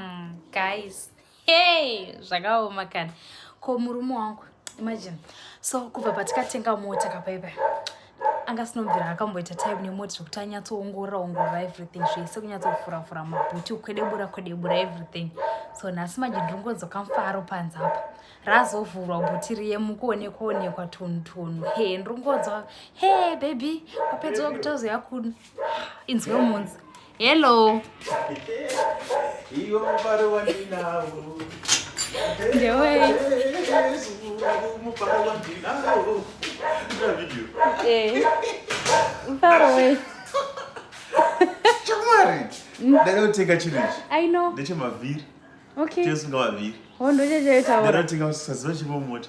mm, guys hey zvakaoma kana ko murume wangu imagine so kubva patikatenga mota kapaipai anga sinobvira akamboita time nemoti zvekuti anyatsoongorora ongorora everything zvese kunyatsofuravura mabhuti ukwedebura kwedebura everything so nhasi manje ndiringonzoka mfaro panze apa razovhurwa bhuti riye mukuonekwa onekwa tunu tunu he ndiringonzwa he baby wapedza wakutozoya kuno inzwe munzi Hello. Ndewe. Eh. Mfaro we. Chamwari. Ndakatenga chiri ichi. I know. Ndechemavhiri. Okay. Chesu ngavavhiri. Hondo chechaita. Ndakatenga usaziva chimwe mota.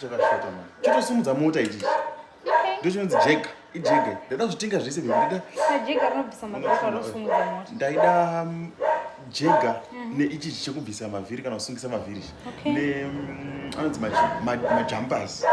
chakashota mani chitosimudza mota ichichi ndochinonzi jega ijege ndaida kuzvitenga zvese ndaida ndaida mm, jega mm. neichichi chekubvisa mavhiri kana kusungisa mavhiri ne mm, anonzi majumpers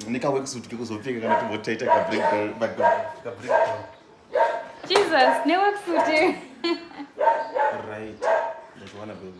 nekaweksuit kekuzopfeka kana timbotaita kabrjsus neweksuit right ndachiwana bebe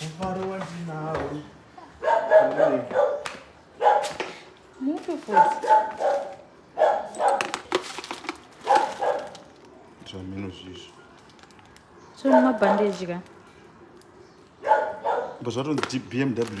Mufaro wandinawo. Mupi futi? Zvamino zvizvo. Zvino mabhandeji ka? Mbozvatonzi BMW.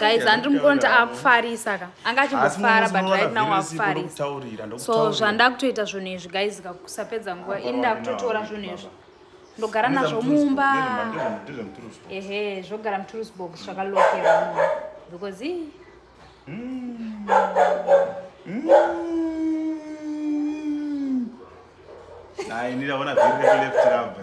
guys handiri mukonta akufarisa ka anga achimbofara but right now akufarisa so zvanda kutoita zvinhu izvi guys ka kusapedza nguva ini ndakutotora zvinhu izvi ndogara nazvo mumba ehe zvogara muturusbox zvakalokera mumba because i hmm. hmm. ini ndaona vhiri rekuleft rabva